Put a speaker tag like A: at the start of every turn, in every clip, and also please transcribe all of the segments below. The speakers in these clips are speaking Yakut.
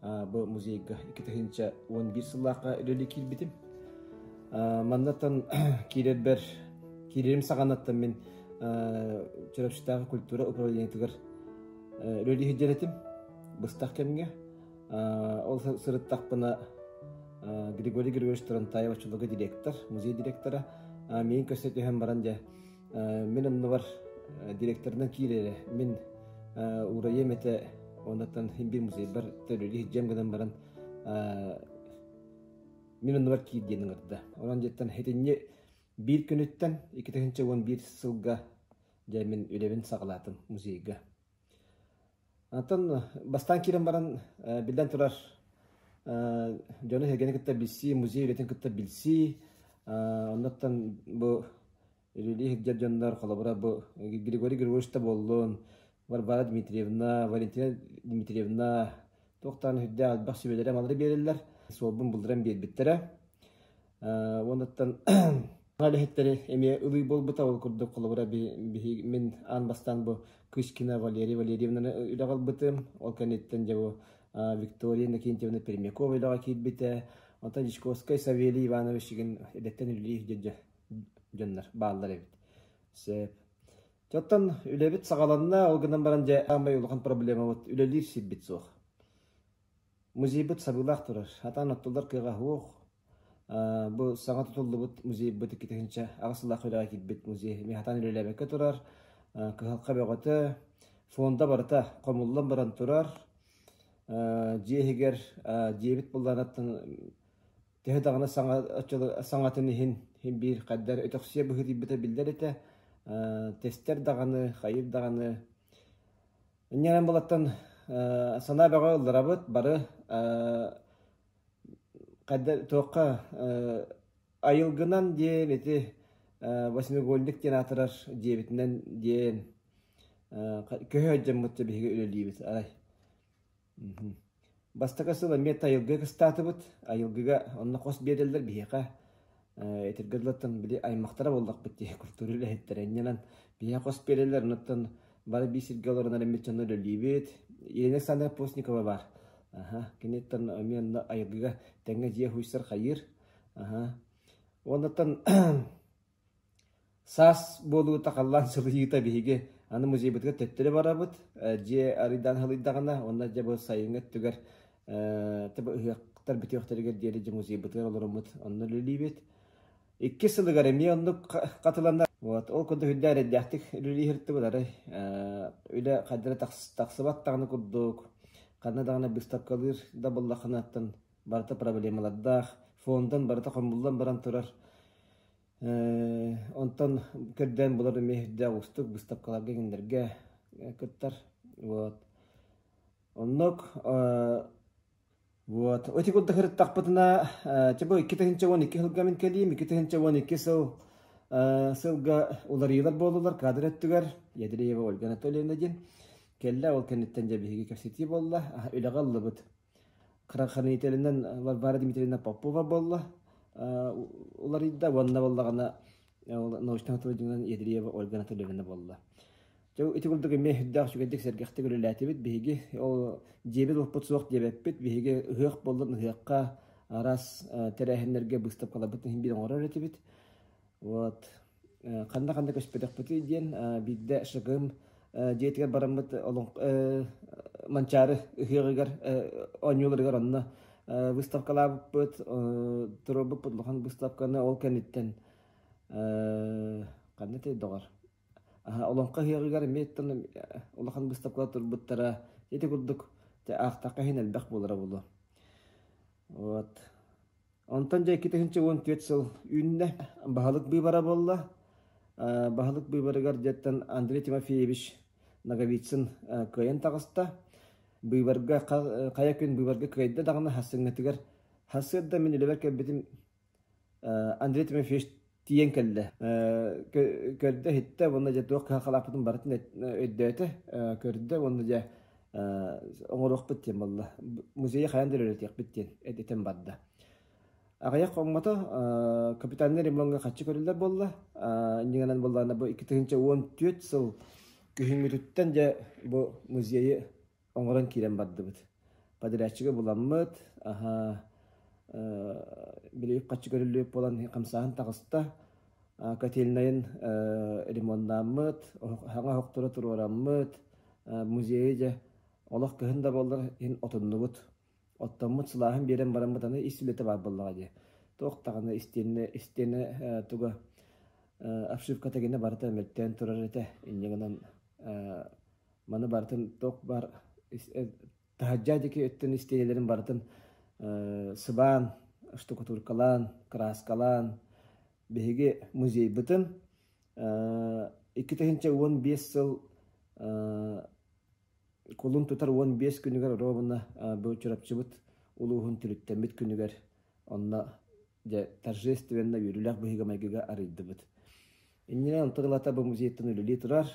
A: бу музейга икки тыһыынча уон биир сыллаахха үлэлии киирбитим. Маннаттан киирэрбэр киирэрим саҕанаттан мин Чөрөпсүтээҕи культура управлениетыгар үлэлии сылдьар этим быстах кэмҥэ. Ол сырыттахпына Григорий Григорьевич Торонтаев очолого директор, музей директора, мен көрсө түһэн баран дьэ Мин анныбар директорынан киирэрэ. Мин уураем этэ оннуктан bir музейбар төлөли иһдьэм гынан баран мин оннугар киир диэн ыҥырда. Онон дьиттэн итинни биир күнүттэн икки тыһыынча уон биир сылга дьэ мин үлэбин саҕалаатым музейга. Антон, бастаан киирэн баран, э, биллэн турар, э, дьону эһэргэни кытта билсии, музей үлэтин кытта билсии, э, оннуттан бу үлэлии сылдьар дьоннор, холобура, бу Григорий Григорьевич да буоллун, Варвара Дмитриевна, Валентина Дмитриевна, туохтаан үрдээх элбэх сүбэлэри-амалары биэрэллэр, суолбун булдуран биэрбиттэрэ. Уонуттан үлэһиттэри эмиэ ылыы буолбута. Ол курдук холобура биһиги мин аан бастаан бу Кыскина Валерия Валерьевнаны үлэҕэ ылбытым. Ол кэнниттэн дьэ бу Виктория Иннокентьевна Пермякова үлэҕэ киирбитэ. Онтон Дьячковскай Савелий Иванович игин идэттэн үлэлиир дьэ дьоннор бааллар эбит. Сөп. Дьэ оттон үлэбит саҕаланна. Ол гынан баран дьэ аамай улахан проблемабыт үлэлиир сирбит суох. Музейбыт сабыылаах турар, хатаан оттуллар кыаҕа суох. Бу саҥа тутуллубут музейбыт иккитинчэ аҕыс сыллаах үрэҕи киирбит музей эмиэ хатаан үлэлээбэккэ турар. Кыһалҕа бөҕөтө, фонда барыта хомуллан баран турар. Дьиэ иһигэр дьиэбит былаанаттан төһө даҕаны саҥа оччолор саҥатын иһин биир хайдах өтөхсүйэ быһыытыйбыта биллэр этэ. Тэстэр даҕаны, хайыыр даҕаны Иннинэн былаттан санаа бөҕө ылларабыт, бары хайда туохха айылгынан диэн ити восьмиугольник диэн аатырар дьиэбитинэн диэн көһө сылдьаммытка биһиги үлэлиибит, арай. Бастакы сыл эмиэ айылгыга кыстаатыбыт. Айылгыга онно хос биэрэллэр биһиэхэ. Итиргэ дылыттан били аймахтара буоллахпыт дии культура үлэһиттэрэ иннинэн биһиэхэ хос биэрэллэр. Онуттан бары биир сиргэ олорон эрэммит дьонно үлэлиибит. Елена Александровна Постникова баар. Аһа, киниттэн эмиэ онно айылгыга тэҥҥэ дьиэ хуйсар хайыыр. Аһа. Уоннаттан Саас буолуута халлаан сылыйыыта биһиги аны музейбытыгар төттөрү барабыт, дьиэ арыйдаан сылыйдаҕына уонна дьэ бу сайыҥҥы өттүгэр таба ыһыахтар бүтүөхтэригэр диэри дьэ музейбытыгар олороммут онно үлэлиибит. Иккис сылыгар эмиэ оннук хатыланар. Вот ол курдук үрдэ эрэйдээхтик үлэлии сырыттыбыт арай үлэ хайдах эрэ тахсыбат даҕаны курдук, ханна даҕаны быыстапкалыыр да буоллаххына оттон барыта проблемалардаах, фондан барыта хомуллан баран турар. Онтон көрдөөн булар эмиэ ирдээх уустук быыстапкаларга кинилэргэ кыттар. Вот. Оннук вот. Эти курда хырыттахпытына, чебо икки тыһынча уон икки сылга мин кэлиим, икки тыһынча уон икки сыл сылга уларыйыылар буоллулар каадыр өттүгэр Ядреева Ольга Анатольевна диэн кэллэ ол кэнниттэн дьэ биһиги кэпсэтии буолла үлэҕэ ыллыбыт Хранхранителинэн Варвара Дмитриевна Попова буолла уларыйда уонна буоллаҕына научно-технологиялар Едреева Ольга Анатольевна буолла. Дьэ ити курдук эмиэ үрдээх үчүгэйдик сэргэхтик үлэлээтибит. Биһиги ол дьиэбит уоппут суох диэбэппит. Биһиги ыһыах буоллун ыһыахха араас тэрээһиннэргэ быыстапкаларбытын иһин биир оҥорор этибит. Вот ханна-ханна көспөтөхпүтүй диэн биирдэ ШГМ дьиэтигэр бараммыт Манчаары ыһыаҕыгар оонньууларыгар онно выставкалаабыппыт, туруорбуппут улахан быыстапканы ол кэнниттэн ханна доҕор Олоҥхо ыһыаҕыгар эмиэ улахан быыстапкалар турбуттара ити курдук аахтахха иһин элбэх буолара буолуо. Вот Онтон дьэ икки тыһыынча уон түөрт сыл үүннэ. Баһылык быыбара буолла. Баһылык быыбарыгар дьиэттэн Андрей Тимофеевич Ноговицын кыайан таҕыста. Быыбарга хайа күн быыбарга кыайда даҕаны, саҥатыгар хас сыырда мин үлэбэр кэлбитим Андрей Тимофеевич тиийэн кэллэ. Көрдө, иһиттэ уонна дьэ туох кыһалҕалаахпытын барытын өйдөөтө, көрдө уонна дьэ оҥоруохпут диэн буолла. Музейы хайан да өрөтүөхпүт диэн этэн барда. Аҕыйах хоҥмото капитаннар ремоҥҥа хаччы көрөллөр буолла. Иннигэнэн буоллаана бу 2004 сыл күһүҥҥүтүттэн дьэ бу музейы оҥорон киирэн бардыбыт. Подрядчига буламмыт, аһа, били үп-харчы көрүллүбүт буолан хамсааһын таҕыста. Котельнайын ремоннааммыт, саҥа оһохтору туруораммыт, музейы дьэ олох кыһын да буоллар иһин отуннубут. Оттоммут сылааһын биэрэн бараммыт аны ис үлэтэ баар буоллаҕа дии. Туох даҕаны истиэнэ истиэнэ туга обшивка тагина барыта мөлтөөн турар этэ инньэ гынан Маны барытын ток бар таһырдьа диэки өттүн истиэнэлэрин барытын сыбаан, штукатуркалаан, краскалаан биһиги музейбытын икки тыһыынча уон биэс сыл кулун тутар уон биэс күнүгэр ровно бу Чурапчыбыт улууһун түлүктэммит күнүгэр онно дьэ, торжественно үөрүүлээх быһыыга-майгыга арыйдыбыт. Иннинэ онто ылата бу музейтан үлэлии турар.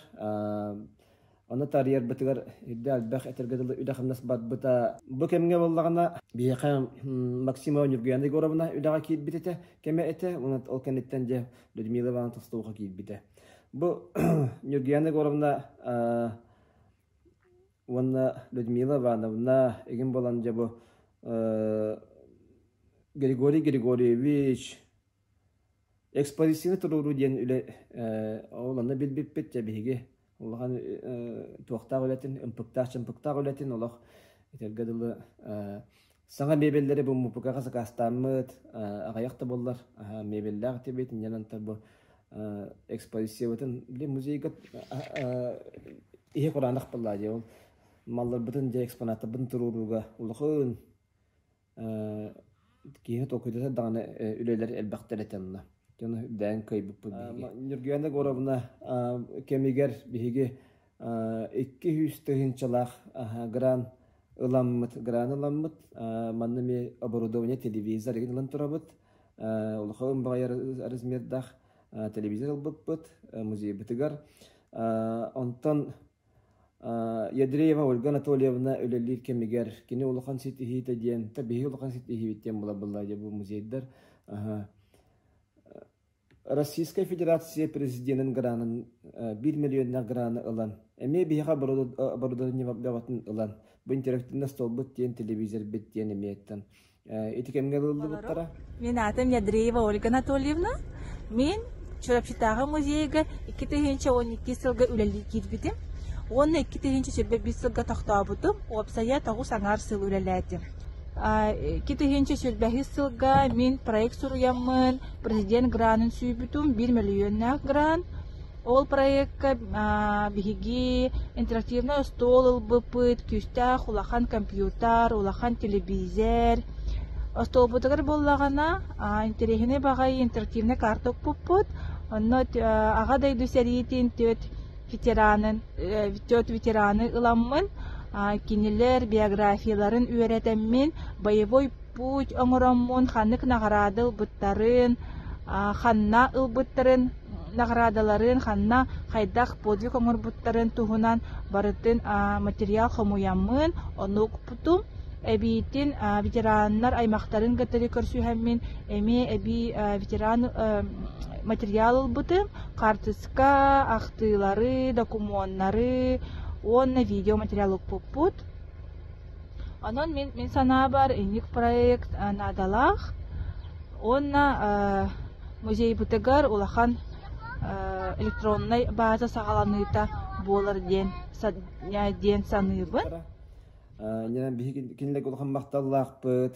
A: Оны тарыйарбытыгар ирде альбах этергө дылы үлэхамнас барбыта. Бу кемге боллагана биэха Максима Нюргуяна Егоровна үлэҕэ киирбитите кеме эте, ол кенеттен же Людмила Ивановна Толстовха киирбите. Бу Нюргуяна Егоровна уонна Людмила Ивановна, игин болан дьабы Григорий Григорьевич экспозиционы туруоруу диэн үлэ оланна билбиппит те биһиги улахан туохтаах үлэтин ымпыктаах чымпыктаах үлэтин олох итэргэ дылы Саҥа мебеллэри буммупукаҕа сакаастааммыт, аҕыйах да буоллар, мебеллээх этибит, инньэн антарбы экспозициябытын били музейга иһи кураанах буолла дии ол малларбытын дьэ экспонаттарбытын туруорууга улахан киһи толкуйдата даҕаны үлэлэр элбэхтэр этэ онно дьону үрдээн кыайбыппыт биһиги Нюргуена Горовна кэмигэр биһиги икки сүүс тыһыынчалаах грант ыламмыт грант ыламмыт манна эмиэ оборудование телевизор игин ылан турабыт улахан баҕайар размердаах телевизор ылбыппыт музейбытыгар онтон Ядреева Ольга Анатольевна үлэлиир кэмигэр кини улахан ситиһиитэ диэн та биһи улахан ситиһиибит диэн була-булла дьэ бу музейдар Российскай Федерация Президенин гранын биир мөлүйүөннээх граны ылан, эмиэ биһиэхэ оборудование бөҕөтүн ылан, бу интерактивный столбут диэн телевизорбыт диэн эмиэтэн ити кэмҥэ ылыллыбыттара. Мин аатым Недреева Ольга Анатольевна. Мин Чурапчытааҕы музейга икки тыһыынча уон икки сылга үлэлии киирбитим. Уонна икки тыһыынча сүүрбэ биис сылга тохтообутум. Уопсайа тоҕус аҥаар сыл үлэлээтим. Икки тыһыынча сүүрбэһис сылга мин проект суруйаммын, Президент гранын сүүбүтүм, биир мөлүйүөннээх грант. Ол проекка биһиги интерактивнай остуол ылбыпыт, күүстээх улахан компьютер, улахан телевизор. Остуолбутугар буоллаҕына, интэриэһинэй баҕайы интерактивнай карта укпуппут. Онно Аҕа дойду сэриитин түөрт ветеранын, түөрт ветераны ыламмын, кинилэр биографияларын үөрэтэммин, боевой путь оҥороммун ханнык наҕараада ылбыттарын, ханна ылбыттарын наҕараадаларын, ханна хайдах подвиг оҥорбуттарын туһунан барытын материал хомуйаммын, ону укпутум. Эбиитин ветераннар аймактарын кытары көрсүһэммин эмиэ эбии ветеран материал ылбытым, хаартыска ахтыылары, докумуоннары уонна видео материал укпуппут. Онон мин мин санаабар инник проект наадалаах уонна музейбытыгар улахан электроннай база саҕаланыыта буолар диэн диэн саныыбын. Ньаа биһиги кинилэргэ улахан махталлаахпыт.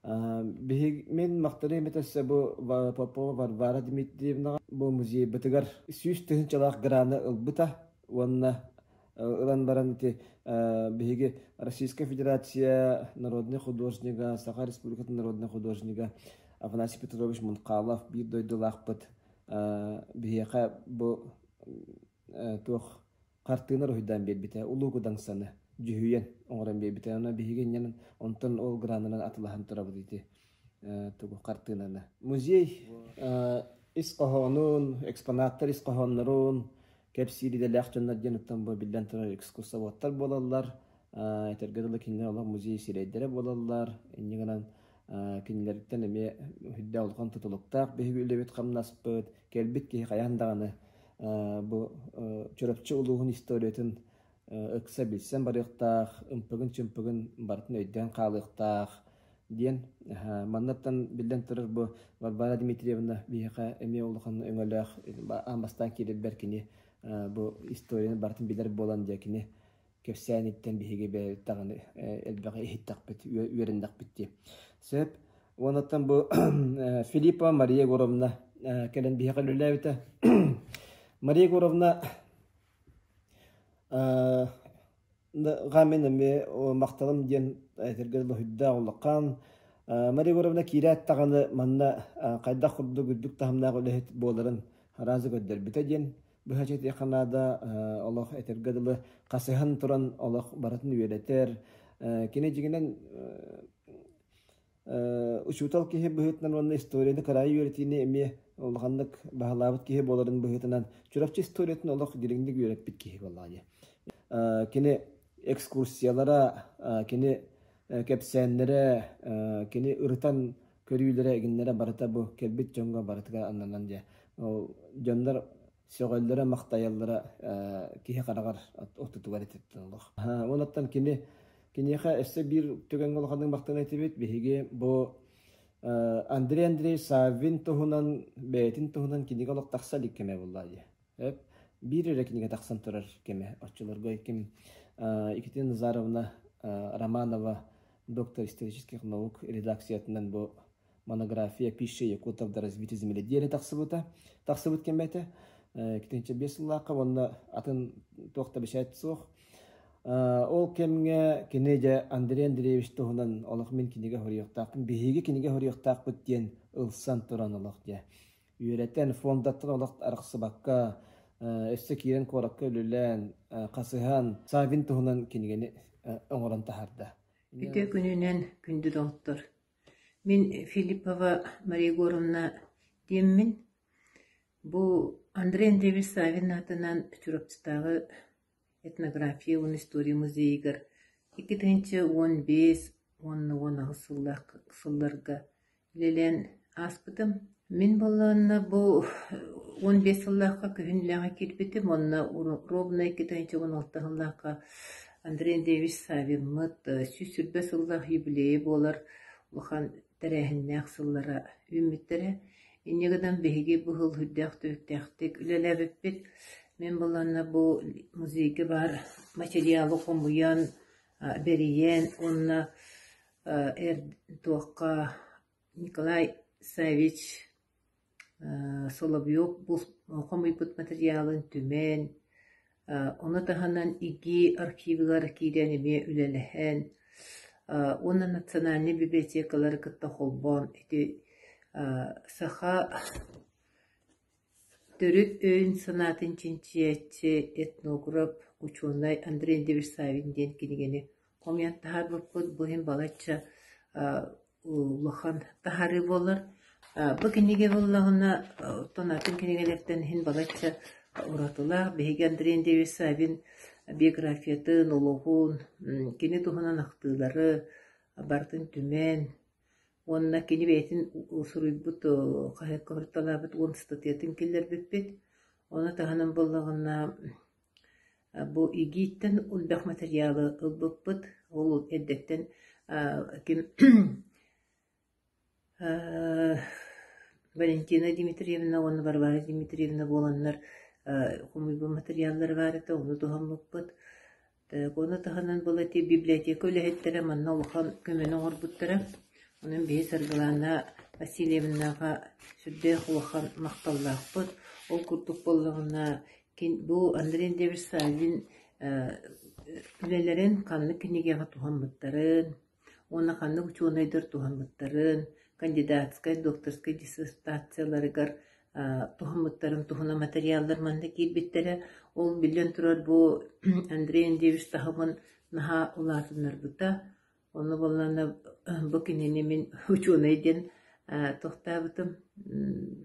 A: Биһиги мин махталым это все бу Попова Варвара Дмитриевнаҕа бу музейбытыгар сүүс тыһыынчалаах граны ылбыта уонна ылан баран ити биһиги Российская Федерация народнай художнига, Саха Республикатын народнай художнига Афанасий Петрович Мунхалов биир дойдулаахпыт биһиэхэ бу туох хартыына уруһуйдаан биэрбитэ Улуу Кудаҥсаны дьүһүйэн оҥорон биэрбитэ. Онно биһиги инньэн онтон ол гранынан атылаһан турабыт ити тугу хартыынаны музей ис хоһоонун экспонаттар ис хоһооннорун кэпсиир идэлээх дьоннор диэн оттон бу биллэн турар экскурсоводтар буолаллар этэргэ дылы кинилэр олох музей сирэйдэрэ буолаллар инньэ гынан кинилэриттэн эмиэ үрдээх улахан тутулуктаах биһиги үлэбит хамнаспыт кэлбит киһи хайаан даҕаны бу Чурапчы улууһун историятын ыкса билсэн барыахтаах, ымпыгын-чымпыгын барытын өйдөөн хаалыахтаах, диэн манныттан биллэн турар бу Варвара Дмитриевна биһиэхэ эмиэ улахан өҥөлөөх аан бастаан киирэрбэр кини бу историяны барытын билэр буолан дьэ кини кэпсээниттэн биһиги бэйэбит даҕаны элбэҕи иһиттэхпит, үөрэннэхпит дии. Сөп. Уонуттан бу Филиппова Мария Егоровна кэлэн биһиэхэ үлэлээбитэ. Мария Егоровна Гаммин эмиэ махталым диэн этэргэ дылы уһуйдаах улахан Мария Егоровна киирээт даҕаны манна хайдах курдук үрдүк таһымнаах үлэһит буоларын араазы көрдөрбүтэ диэн быһаччы этиэххэ наада олох этэргэ дылы хасыһан туран олох барытын үөрэтэр кини дьиҥинэн учуутал киһи быһыытынан уонна историяны кыраайы үөрэтиини эмиэ улаханнык баһылаабыт киһи буоларын быһыытынан Чурапчы историятын олох дириҥник үөрэппит киһи буоллаҕа дии. Кини экскурсиялара, кини кэпсээннэрэ, кини ырытан көрүүлэрэ, игиннэрэ барыта бу кэлбит дьоҥҥо барытыгар ананан дьэ дьоннор сөҕөллөрө-махтайаллара киһи хараҕар ортотугар ититтинэллэр. Уонуттан кини киниэхэ өссө биир түгэҥҥэ улаханнык махтана этибит. Биһиги бу Андрей Андреевич Саввин туһунан бэйэтин туһунан кинигэ олох тахса илик кэмэ буолла дии. Эп биир эрэ кинигэ тахсан турар кэмэ оччолорго ким Екатерина Назаровна Романова доктор исторических наук редакциятынан бу монография пища якутов да развития земли диэри тахсыбыта тахсыбыт кэмэтэ китинчэ биэс сыллаахха уонна атын туох да бэчээт суох ол кэмҥэ кини дьэ Андрей Андреевич туһунан олох мин кинигэ хоруйуохтаахпын биһиги кинигэ хоруйуохтаахпыт диэн ылсан туран олох дьэ үөрэтэн фондаттан олох арахсыбакка өссө киирэн куоракка үлүлээн хасыһан Савин туһунан кинигэни оҥорон таһарда. Үтүө күнүнэн күндү доҕоттор Мин Филиппова Мария Егоровна диэммин, бу Андрей Андреевич Саввин аатынан Чурапчытааҕы этнография уонна история музейыгар икки тыһыынча уон биэс уонна уон аҕыс сыллаах сылларга үлэлээн ааспытым. Мин буоллаҕына бу уон биэс сыллаахха күһүннээҕи киирбитим уонна Ровнай Китай чугун алта сыллаахха Андрей Андреевич Саввинмыт сүүс сүүрбэ сыллаах юбилейа буолар улахан тэрээһиннээх сыллара үүммүттэрэ. Инньэ гынан биһиги бу сыл сүрдээх-түбүктээхтик үлэлээбиппит. Мин буоллаҕына бу музейга баар материалы хомуйан, бэрийэн уонна эр туохха Николай Саввич Соловьев хомуйбут матырыйаалын түмэн, ону таһынан ИГИ архивыгар киирэн эмиэ үлэлэһэн уонна национальнай библиотекалары кытта холбоон ити саха төрүт өйүн-санаатын чинчийээччи, этнограф, учуонай Андрей Деверсавин диэн кинигэни хомуйан таһаарбыппыт. Бу иһин балачча улахан таһаарыы буолар. Бу кинигэ буоллаҕына, оттон атын кинигэлэртэн иһин балачча уратылаах. Биһиги Андрей Андреевич Савин биографиятын, олоҕун, кини туһунан ахтыылары барытын түмэн уонна кини бэйэтин суруйбут хаһыакка хатылаабыт уон статуятын киллэрбиппит. Оны таһынан буоллаҕына Бу ИГИИ-ттэн элбэх матырыйаалы ылбыппыт, ол эрдэттэн ким Валентина Дмитриевна уонна Варвара Дмитриевна буоланнар хомуйбут матырыйааллара баар этэ, ону туһаммыппыт. Ону таһынан было ити библиотека үлэһиттэрэ манна улахан көмөнү оҥорбуттара. Онон биһи Саргылаана Васильевнаҕа сүрдээх улахан махталлаахпыт. Ол курдук буоллаҕына Кин бу Андрей Андреевич Саввин э үлэлэрин ханнык кинигэҕэ туһаммыттарын уонна ханнык учуонайдар туһаммыттарын, кандидатскай, докторскай диссертацияларыгар э туһаммыттарын туһунан материаллар манна киирбиттэрэ. Ол биллэн турар бу Андрей Андреевич таһымын наһаа улаатыннарбыта. Ону булланна бу кинини мин учуонай диэн тохтообутум.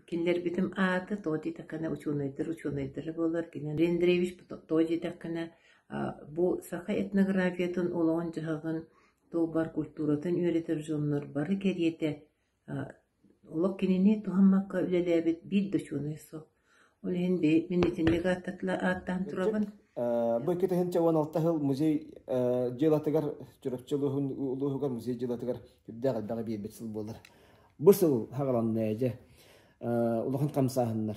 A: Кинилэрбитим аата тоҕо диэтэххинэ учуонайдар учуонайдара буолар. Кинилэр Андреевич тоҕо диэтэххинэ бу саха этнографиятын олоҕун дьаһаҕын туолбар культуратын үөрэтэр дьоннор бары кэриэтэ Олох кинини туһаммакка үлэлээбит биир да учуонай суох. Ол иһин бэйи мин итинник ааттаан турабын. Бу икки тыһыынча уон алта сыл музей дьыалатыгар Чурапчы улууһугар музей дьыалатыгар үрдээх элбэҕи биэрбит сыл буолар. Бу сыл хаҕаланна дьэ улахан хамсааһыннар.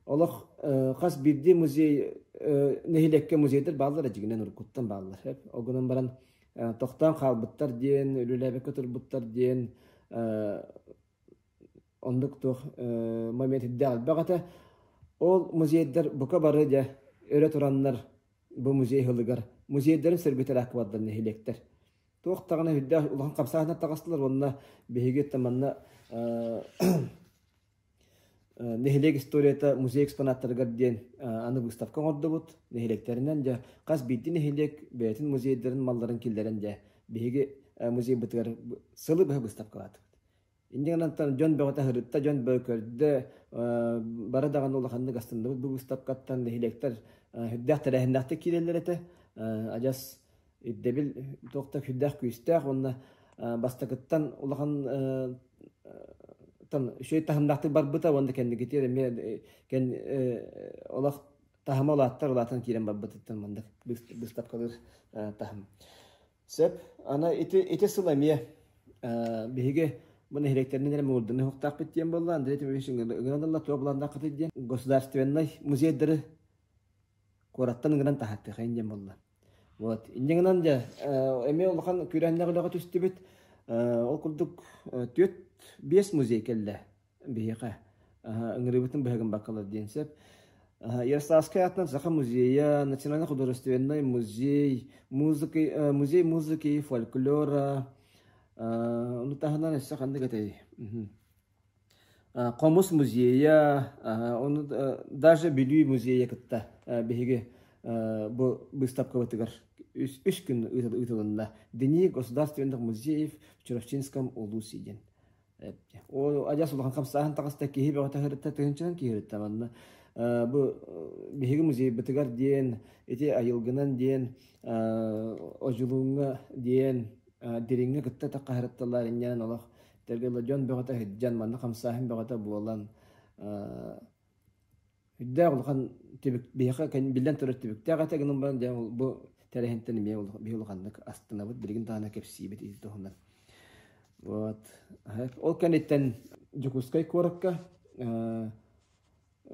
A: Олох хас биирдии музей нэһилиэккэ музейдэр бааллар, дьигинэн уруккуттан бааллар. Огунан баран тохтоон хаалбыттар диэн, үлэлээбэккэ турбуттар диэн оннук туох момент ирдээх элбэх этэ. Ол музейдар бука бары дьэ өрө тураннар бу музей ылыгар музейдарын сөргүтэлээх кыбардар нэһилиэктэр. Туох даҕаны үрдээх улахан хамсаатынан таҕыстылар уонна биһиги манна Нэһилиэк историята музей экспонаттарыгар диэн аны выставка оҥордубут. Нэһилиэктэринэн дьэ хас биирдии нэһилиэк бэйэтин музейдарын малларын киллэрэн дьэ биһиги музейбытыгар сылы быһа выставкалаатыбыт. Инньэ гынан дьон бөҕөтө ыһырытта, дьон бөҕө көрдө. Бары даҕаны улаханнык астынныбыт бу выставкаттан. Нэһилиэктэр сүрдээх тэрээһиннээхтик киирэллэр этэ. Адьас ирдэбил туох да күүстээх-күүстээх уонна бастакыттан улахан үчүгэй таһымнаахтык барбыта уонна кэнникитиэр эмиэ олох таһыма улааттар улаатан киирэн барбытыттан маннык быыстапкалыыр таһым. Сөп. Ана ити ити сыл эмиэ биһиги бу нэһилиэктэринэн эрэ муурданы хуктаахпыт диэн болла Андрей Тимофеевич ыҥырылла туох буланнааххытый диэн государственнай музейдары куораттан ыҥыран таһаттыхайын диэн болла. Вот. Инде гынан дьэ, э, эмиэ улахан күрээннэх үлэҕэ түстүбүт. Э, ол курдук э, түөрт биэс музей кэллэ биһиэхэ. Ыҥырыыбытын быһыгын баккалар диэн сөп. Ярославскай атынан Саха музейа, Национально-художественный музей, музыки, музей музыки, фольклора, ону таһынан өссө ханнык этэй? Хомус музейа, ону даже Бүлүү музейа кытта биһиги бу быыстапкабытыгар үс күн ыытылынна. Дини государственных музеев в Чурапчынском улусе диэн. Ол адьас улахан хамсааһын таҕыста киһи бөҕө таһырытта тыһынчанан киһиритtä манна бу биһиги музейбытыгар диэн ити айылгынан диэн Одьулууҥҥа диэн дириҥҥэ кытта таххаһырытталаар инньээн олох Тагеладжон бөҕөтө иһирдьэн, манна хамсааһын бөҕөтө буолан, үрдээх улахан түбүк биһиэхэ биллэн турар түбүктээх этэ гынан баран дьэ бу тэрээһинтэн эмиэ биһиги улаханнык астынабыт билигин даҕаны кэпсиибит ил туһунан вот ол кэнниттэн Дьокуускай куоракка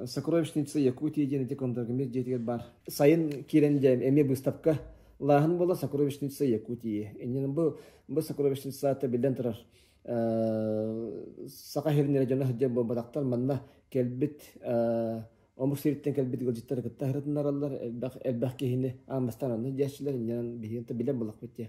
A: сокровищница Якутия диэн ити Кондоргамир дьиэтигэр баар. Сайын киирэн дьэ эмиэ быыстапка лааһын буола сокровищница Якутии. Иннин бу бу сокровищницата биллэн турар саха иһириннэрэ дьоно сылдьар буолбатахтар манна кэлбит омук сириттэн кэлбит ыалдьыттары кытта сырытыннараллар элбэх элбэх киһини ааммастан анны диэччилэр иннинэн биһиэнтэ билэн булахпыт диэ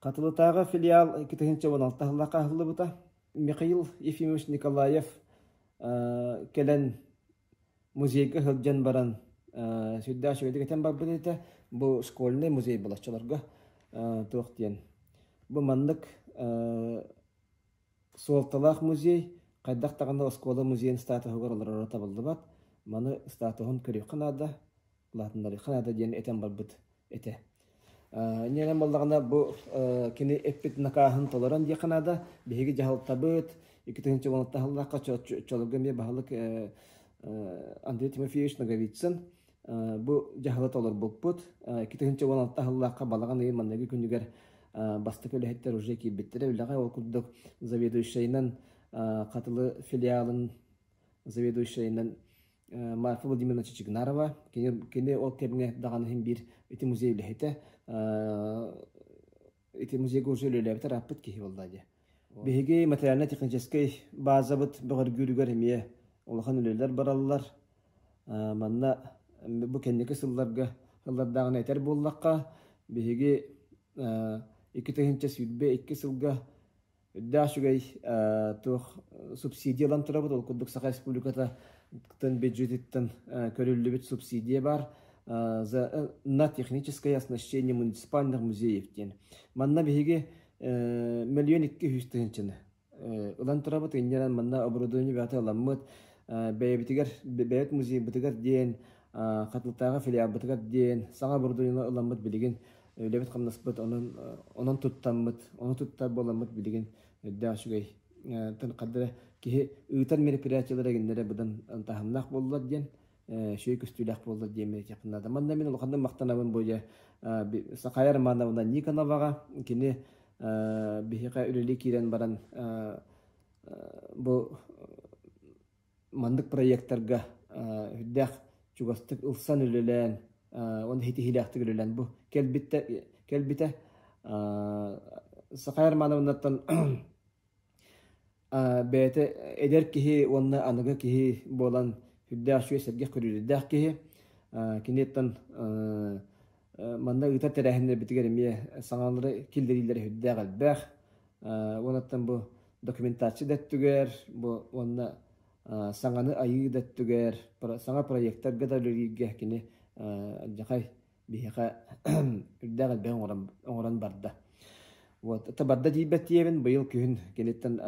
A: Хатылытааҕы филиал икки тыһыынча уон алта сыллаахха аһыллыбыта. Михаил Ефимович Николаев кэлэн музейга сылдьан баран сүрдээх үчүгэйдик этэн барбыт этэ. Бу школьнай музей болоччолорго туох диэн. Бу маннык суолталаах музей хайдах даҕаны оскуола музейын статуһугар олороро табыллыбат. Маны статуһун көрүөххэ наада. улаатыннарыха наада диэн этэн барбыт этэ. Ньэнэн баллаҕына бу кини эппит накааһын толорон диэхэ наада. Биһиги дьаһалтабыт, иккитин чоҕунаттаһаллахха чоловуга эмиэ баһылык Андрей Тимофеевич Ноговицын бу дьаһала толорбуппут. Иккитин чоҕунаттаһаллахха балаҕан ыйы манныгы күнүгэр бастакы үлэһиттэр уже киирбиттэрэ. Үлэҕэ ол курдук заведующайынан хатылы филиалын заведующайынан Марфа Владимировна Чичигнарова. Кини, кини ол кэмҥэ даҕаны иһин биир ити музей үлэһитэ. Ити музейга уже үлэлээбит араппыт киһи буолла дии. Биһиги материально-техническэй базабыт бөҕөргүүрүгэр эмиэ улахан үлэлэр бараллар. Манна бу кэнники сылларга сыллардааҕыны этэр буоллахха, биһиги икки тыһыынча сүүрбэ икки сылга Үрдээх үчүгэй туох субсидия ылан турабыт, ол курдук Саха Республиката бюджетиттан көрүллүбүт субсидия баар за на техническое оснащение муниципальных музеев диэн. Манна биһиги мөлүйөн икки үһүс тыһынчаны ылан турабыт, иннинэн манна оборудование бэйэтэ ыламмыт, бэйэбитигэр, бэйэт музейбытыгар диэн Хатылтааҕы филиалбытыгар диэн саҥа бородууксуйаны ылламмыт билигин үлэбит-хамнаспыт онон онон туттаммыт, ону туттар буоламмыт билигин үрдээх үчүгэй хардары эрэ киһи ыытар мероприятиелара гиннэрэ быдан таһымнаах буоллулар диэн үчүгэй көстүүлээх буоллар диэн мэлитиэхпин наада. Манна мин улаханнык махтанабын бу дьэ Сахая Романовна Никоноваҕа кини биһиэхэ үлэлии киирэн баран бу маннык проектарга үрдээх чугастык ылсан үлэлээн уонна ситиһиилээхтик үлэлээн бу кэлбиттэ кэлбитэ Саха Романовнаттан бэйэтэ эдэр киһи уонна аныгы киһи буолан үрдээх үчүгэй сэргэх көрүүдээх киһи киниттэн Манна ыытар тэрээһиннэрбитигэр эмиэ саҥалары киллэриилэр үһүрдээх элбэх. Уонаттан бу документация да өттүгэр, бу уонна саҥаны айыы да өттүгэр, саҥа проектарга да үлэлииргэ кини дьахай биһиэхэ үрдээх элбэҕи оҥорон барда. Вот, это барда диэбиттиэбин, быйыл күһүн киниттэн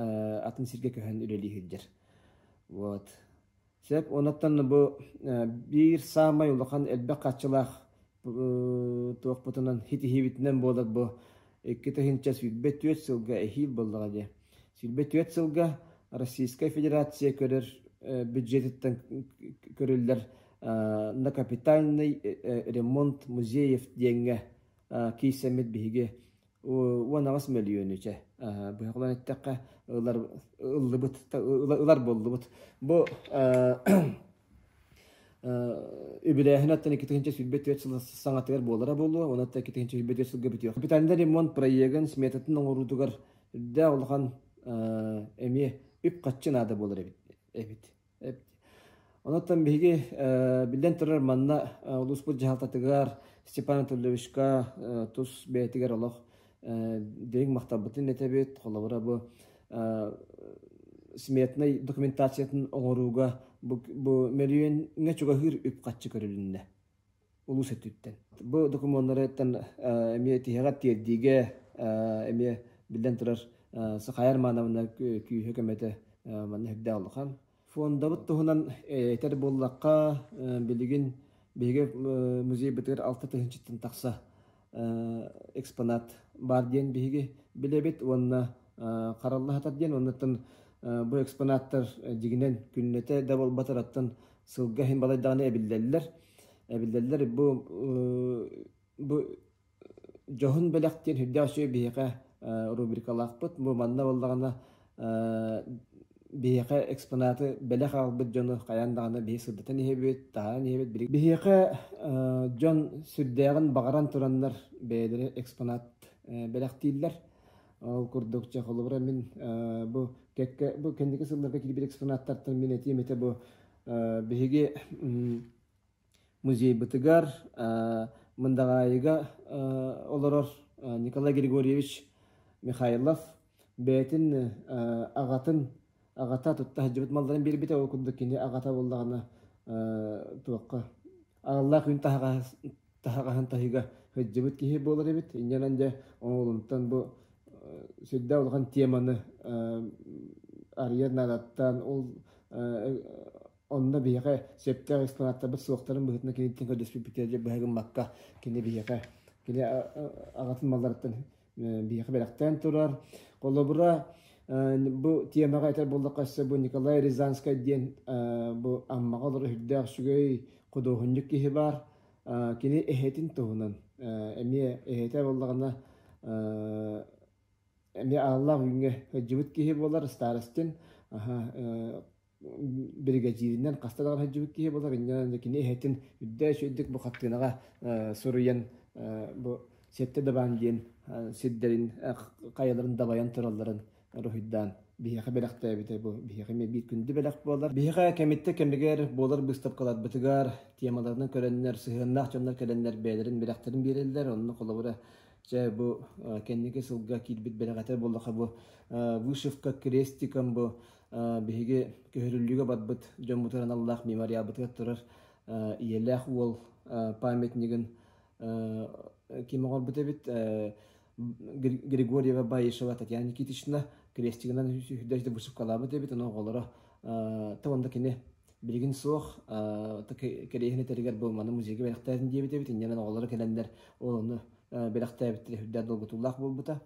A: атын сиргэ көһөн үлэлии сылдьар. Вот, Сөп. Онуттан бу биир саамай улахан элбэх хааччылаах туохпутунан ситиһиибитинэн буолар бу икки тыһыынча сүүрбэ түөрт сылга эһиил буоллаҕа дии. Сүүрбэ түөрт сылга Российская Федерация көрөр бюджетиттэн көрүллэр накапитальный ремонт музеев диэҥҥэ киирсэммит биһиги уон аҕыс мөлүйүөнү чэ быһаҕынан эттэххэ ылар ыллыбыт ылар буллубут бу үбүлээһин аттан икки тыһыынча сүүрбэ түөрт сыл саҥатыгар буолара буолуо уонна атта икки тыһыынча сүүрбэ түөрт сылга бүтүөх капитандар ремонт проегын сметатын оҥоруутугар үрдээх улахан эмиэ үп-харчы наада буолар эбит эбит Онуттан биһиги биллэн турар манна улууспут дьаһалтатыгар Степан Анатольевичка тус бэйэтигэр олох дириҥ махталбытын итэбит. Холобура бу сметнай документациятын оҥорууга бу мөлүйүөҥҥэ чугаһыыр үп-харчы көрүлүннэ. улус өттүттэн. Бу докумуоннарыттан эмиэ тиһэҕэ тиэрдиигэ эмиэ биллэн турар Сахайар Маанабына күүһэ көмөтө манна үрдээх улахан. Фондабыт туһунан этэр буоллахха, билигин биһиги музей бытыгар алта тыһыынчыттан тахса экспонат баар диэн биһиги билэбит уонна хараллаһатар диэн уоннаттан бу экспонаттар дьигинэн күннэтэ да буолбатараттан сылга иһин балайдаҕына эбиллэллэр эбиллэллэр бу бу дьоһун бэлэх диэн сүрдээх үчүгэй биһиэхэ рубрикалаахпыт бу манна буоллаҕына биһиэхэ экспонаты бэлэх аҕалбыт дьону хайаан даҕаны биһи сырдатан иһэбит, таһаан иһэбит. Биһиэхэ дьон сүрдээҕин баҕаран тураннар бэйэлэрэ экспонат бэлэхтииллэр. Ол курдук, чэ, холобура мин бу кэккэ бу кэнники сылларга кирбит экспонаттартан мин этиим этэ бу биһиги музейбытыгар Мындаҕаайыга олорор Николай Григорьевич Михайлов бэйэтин аҕатын аҕата тутта сылдьыбыт малларын биэрбитэ ол курдук кини аҕата буоллаҕына туохха аналлаах күн таһаҕаһын таһыыга сылдьыбыт киһи буолар эбит инньэнэн дьэ оҕолонтон бу сүрдээх улахан теманы арыйар наадаттан ол Онно биһиэхэ сөптөөх экспонаттарбыт суохтарын быһыытынан киниттэн көрдөспүппүтэ дьэ быһа гыммакка кини биһиэхэ кини аҕатын малларыттан биһиэхэ бэлэхтээн турар. Холобура, бу тиэмэҕэ этэр буоллахха өссө бу Николай Рязанскай диэн бу Аммаҕа олорор үрдээх үчүгэй худуоһунньук киһи баар. Кини эһэтин туһунан эмиэ эһэтэ буоллаҕына эмиэ ааллаах бүгүҥҥэ сылдьыбыт киһи буолар старостин аха биригэдьииринэн хаста даҕаны сылдьыбыт киһи болар иннинэ кини иһэтин үрдээч үрдүк бу хаттыынаҕа суруйан бу сетте дабаан диэн сирдэрин хайаларын дабайан туралларын руһуйдаан биһиэхэ бэлэхтээбитэ бу биһиэхэ эмиэ биир күндү бэлэх буолар биһиэхэ кэмиттэ кэмигэр буолар быыстапкаларбытыгар темаларынан көрөннөр сыһыаннаах дьоннор кэлэннэр бэйэлэрин бэлэхтэрин биэрэллэр онно холобура Дьэ, бу кэнники сылга киирбит бэлэҕэтэ буоллаха бу Вышивка крестиком бу биһиги көһөрүллүүгэ барбыт дьоммутун аналлаах мемориалбытыгар турар ийэлээх уол памятнигын ким оҥорбут эбит Григорьева Баишева Татьяна Никитична крестигынан сүүһүрдэ высыпкалаабыт эбит ону оҕолоро то онда кини билигин суох кэриэһин этэригэр буолманы музейга бэлэхтээтин диэбит эбит иннинэн оҕолоро кэлэннэр олону бэлэхтээбиттэрэ үрдээх долгутуулаах буолбута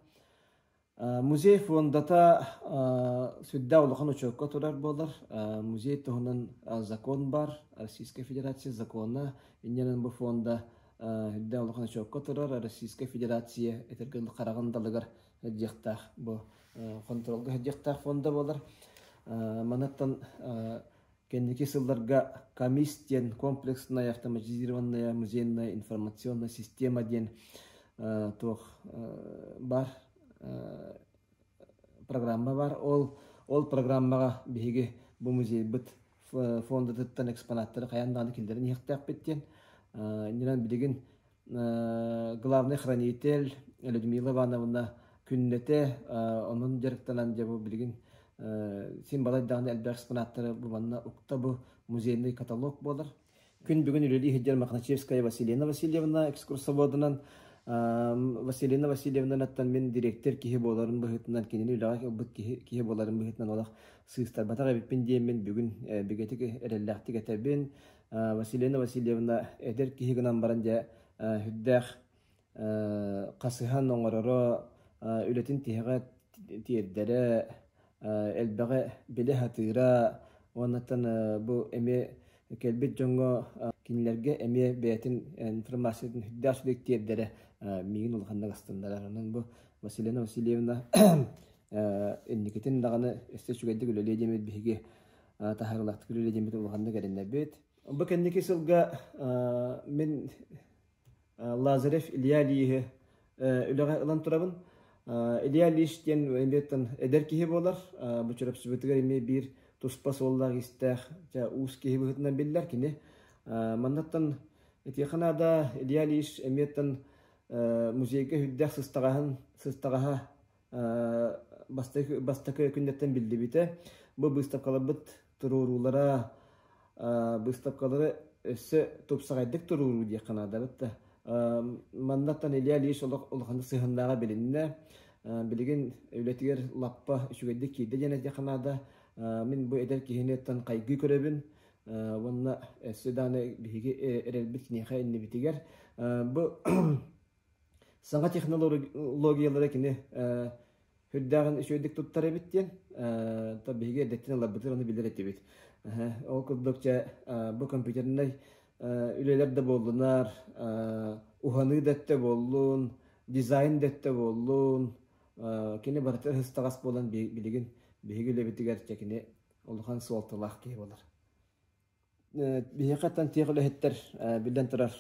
A: Музей фондата сүрдээх улахан очеркка турар буолар. Музей туһунан закон бар, Российская Федерация закона, иннинэн бу фонда үрдээх улахан очеркка турар, Российская Федерация этэргэ хараҕын далыгар сылдьыахтаах бу хонтуруолга сылдьыахтаах фонда буолар. Манаттан Кэнники сылларга КАМИС диэн комплекснай автоматизированная музейная информационная система диэн туох бар программа бар. Ол ол программаҕа биһиги бу музейбыт фондатыттан экспонаттары хайаан даҕаны киллэрэн иһиэхтээхпит диэн. Иннинэн билигин главный хранитель Людмила Ивановна күннэтэ онон дьарыктанан дьэ бу билигин син балай даҕаны элбэх экспонаттары бу манна укта бу музейный каталог буолар. Күн бүгүн үлэлии сылдьар Мохначевская Василина Васильевна экскурсоводунан Василина Васильевнаныттан мин директор киһи буоларын быһыытынан кинини үлэҕэ ылбыт киһи киһи буоларын быһыытынан олох сыыстарбатах эбиппин диэммин бүгүн бигэтик эрэллээхтик этэбин Василина Васильевна эдэр киһи гынан баран дьэ үрдээх хасыһан оҥороро үлэтин тиһэҕэ тиэрдэрэ элбэҕи билэ сатыыра уоннаттан бу эмиэ кэлбит дьоҥҥо кинилэргэ эмиэ бэйэтин информациятын үрдээх силик тиэрдэрэ миигин улаханнык астыннарар онон бу Василина Васильевна инникитин даҕаны өссө үчүгэйдик үлэлиэ диэмит биһиги таһаарылаахтык үлэ диэммит улаханнык эрэннэрбит. Бу кэнники сылга мин Лазарев Илья Ильиһи үлэҕэ ылан турабын. Илья Ильич диэн эмиэттэн эдэр киһи буолар. Бу чөрөпсүбүтүгэр эмиэ биир туспа суоллаах-истээх уус киһи быһыытынан биллэр кини. Маннаттан итиэхэ наада Илья Ильич эмиэттэн музейга үрдээх сыстаҕаһын сыстаҕаһа бастакы, бастакы күннэртэн биллибитэ. Бу быыстапкаларбыт туруоруулара быыстапкалары өссө тупсаҕайдык туруоруу диэххэ наадабыт да. Маннаттан Илья Ильич улаханнык сыһыаннааҕа билиннэ. Билигин үлэтигэр лаппа үчүгэйдик киирдэ диэн этиэххэ наада. Мин бу эдэр киһиниттэн хайгыы көрөбүн уонна өссө дааны биһиги эрэлбит киниэхэ иннибитигэр. Бу саҥа технологиялары кини үрдээҕин үчүгэйдик туттар эбит диэн то биһиги эрдэттэн ыларбытын аны билэр этибит ол курдук дьэ бу компьютернай үлэлэр да буоллунар уһаныы да өттө буоллун дизайн да өттө буоллун кини барытын ыстаҕас буолан билигин биһиги үлэбитигэр дьэ кини улахан суолталаах киһи болар Биһиэхэ аттан тиэх үлэһиттэр биллэн турар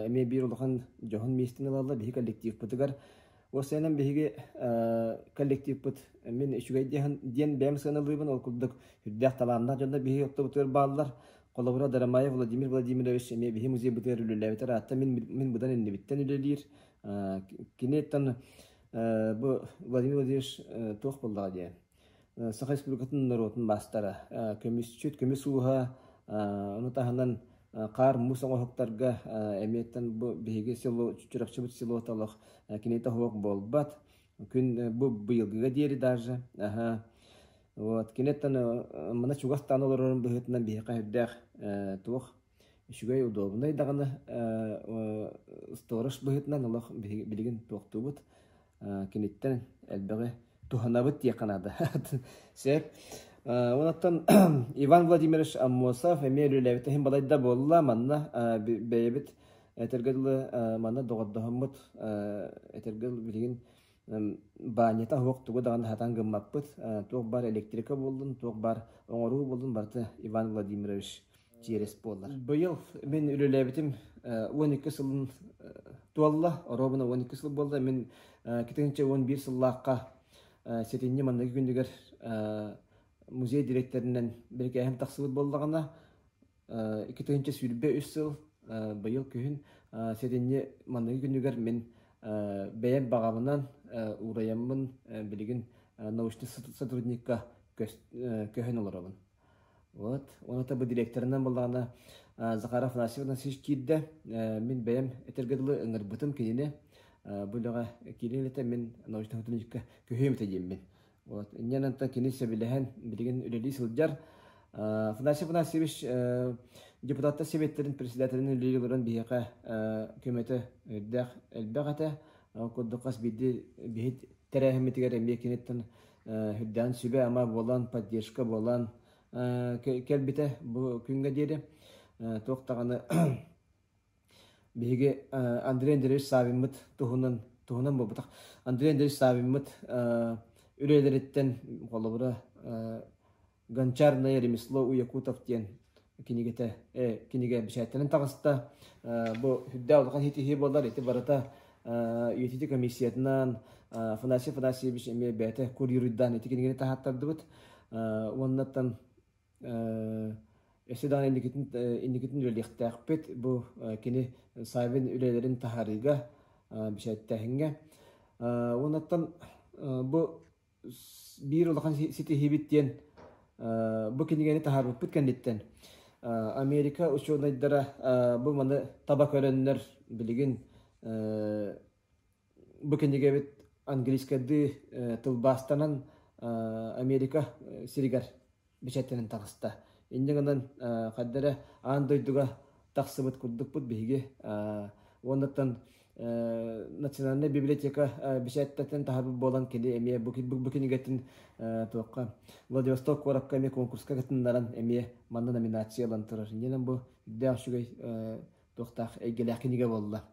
A: эмиэ биир улахан дьоһун миэстэни ылаллар биһиги коллективпытыгар. Уопсайынан биһиги коллективпыт мин үчүгэй диэн диэн бэйэм сыаналыыбын ол курдук үрдээх талааннаах дьоннор биһиги оттоботугар бааллар. Холобура Дарамаев Владимир Владимирович эмиэ биһи музейбытыгар үлэлээбит араатта мин мин быдан иннибиттэн үлэлиир. Кини тан бу Владимир Владимирович туох буоллаҕа диэн Саха Республикатын норуотун маастара, көмүсчүт, көмүс ууһа, ону таһынан хаар-муус оҥоһуктарга эмиэттэн бу биһиги село, Чурапчыбыт селото олох киниэхэ уһук буолбат. Күн бу быйылгыга диэри даже вот киниттэн мана чугастаан олорорун быһыытынан биһиэхэ сүрдээх туох Үчүгэй удобнай даҕаны сторож быһыытынан олох билигин туохтуубут киниттэн элбэҕи туһанабыт диэххэ наада. Сөп. Онон Иван Владимирович Аммосов эмиэ үлэлээбит иһин балайда буолла. Манна бэйэбит этэргэ дылы манна доҕордоһоммут этэргэ дылы билигин баанньата оһуох тугу даҕаны сатаан гыммаппыт. Туох баар электрика буоллун, туох баар оҥоруу буоллун, барыта Иван Владимирович чиэрэс буолар. Быйыл мин үлэлээбитим уон икки сылын туолла, оруобуна уон икки сыл буолла. Мин китинчэ уон биир сыллаахха сэтинньи манныгы күндүгэр музей дириэктэринэн бирикээһим тахсыбыт буоллаҕына, Икки тыһыынча сүүрбэ үс сыл быйыл күһүн сэтинньи манныгы күнүгэр мин бэйэм баҕабынан уурайаммын билигин научнай сотрудникка көһөн олоробун. Вот. Уонна бу директорынан буоллаҕына Захар Афанасьев Анасич киирдэ. Мин бэйэм этэргэ дылы ыҥырбытым кинини. Бу үлэҕэ киирэн үлэтэ мин научнай сотрудникка көһүөм этэ диэммин Вот. Иннен антан кини сөбүлэһэн билигин үлэлии сылдьар. Федосия Афанасьевич депутаттар Советтерин председателин үлэлии олорон биһиэхэ көмөтө үрдээх элбэх этэ. Курдук хас биирди биһит тэрээһиммитигэр эмиэ киниттэн үрдээн сүбэ ама буолан, поддержка буолан кэлбитэ бу күнгө диэри туох даҕаны Биһиги Андрей Андреевич Саввиммыт туһунан туһунан буолбатах. Андрей Андреевич Саввиммыт үлэлэриттэн холобура «Гончарное ремесло Уякутов» диэн кинигэтэ кинигэ бэчээттэнэн таҕыста. Бу үрдээх улахан иһитиһии буолар. Ити барыта үйэтити комиссиятынан Афанасий Афанасьевич эмиэ бэйэтэ курьеруйдаан ити кинигэни таһааттардыбыт. Уоннаттан Эссе даҕаны инникитин инникитин үлэлиэхтээхпит. Бу кини сайын үлэлэрин таһаарыыга, бэчээттээһиҥҥэ. Уонаттан бу биир улахан ситиһиибит диэн бу кинигэни таһаарбыппыт кэнниттэн Америка учуонайдара бу маны таба көрөннөр билигин Бу кинигэбит английскайдыы э, тылбаастанан э, Америка э, сиригэр бэчээттэнэн таҕыста. Инньэ гынан э, ханна эрэ аан дойдуга тахсыбыт курдукпут биһиги э, уоннаттан э, национальная библиотека э, бэчээттэтин таһарбыт буолан кини эмиэ бу, бу, бу кинигэтин э, туохха Владивосток куоракка эмиэ конкурска кытыннаран эмиэ манна номинация ылан турар. Инньэ гынан бу үрдээх үчүгэй э, туохтаах эйгэлээх кинигэ буолла.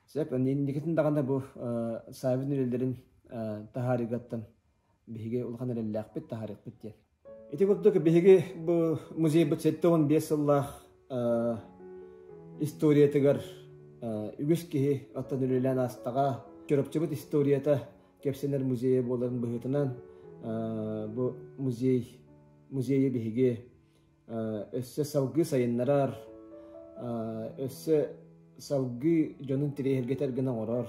A: Сөп, инникитин даҕаны бу Савин үлэлэрин таһаарыыгаттан биһиги улахан эрэллээхпит, таһаарыахпыт диэн. Ити курдук биһиги бу музейбыт сэттэ уон биэс сыллаах историятыгар үгүс киһи оттон үлэлээн аастаҕа Чурапчыбыт историята кэпсэнэр музейа буоларын быһыытынан бу музей музейы биһиги өссө салгыы сайыннарар, өссө салгыы дьонун тириэһиргэтэр гына оҥорор,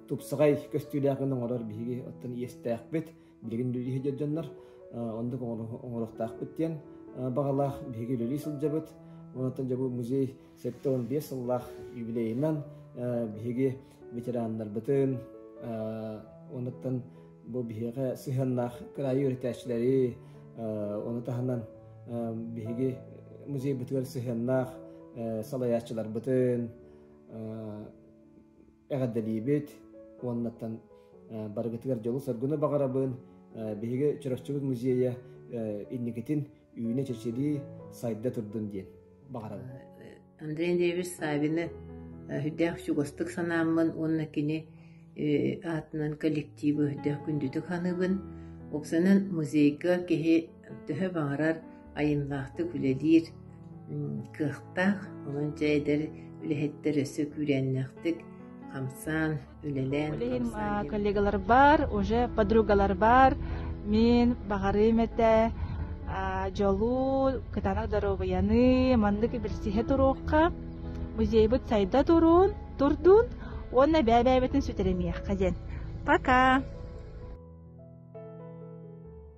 A: тупсаҕай көстүүлээх гына оҥорор биһиги оттон иэстээхпит, билигин үлэлиһэ дьоннор, оннук оҥоруохтаахпыт диэн баҕалаах биһиги үлэлии сылдьабыт. Оттон дьэ бу музей Сэттэ уон биэс сыллаах юбилейынан биһиги ветераннарбытын онуттан бу биһиэхэ сыһыаннаах кыраайы үөрэтээччилэри ону таһынан биһиги музейбытыгар сыһыаннаах салайааччыларбытын эҕэрдэлиибит уоннаттан барыгытыгар дьолу-соргуну баҕарабын биһиги Чураччыбыт музейа инникитин үүнэ чэчирии сайда турдун диэн баҕарабын Андрей Андреевич Савины үрдээх чугастык санааммын уонна кини аатынан коллективы үрдээх күндүтүк ханыыбын Оксанан музейга киһи төһө баҕарар айымнаахтык үлэлиир кыахтаах, онон дьэ эдэр үлэһиттэр өссө күүрээннээхтик хамсаан, үлэлээн Билим коллегалар бар, уже подругалар бар. Мен баҕарыым этэ дьолу, кытаанах доруобуйаны маннык билсиһэ туруохха. Музейбыт сайда турун, турдун, уонна бэбэбэтин сүтэримиэххэ диэн. Пока!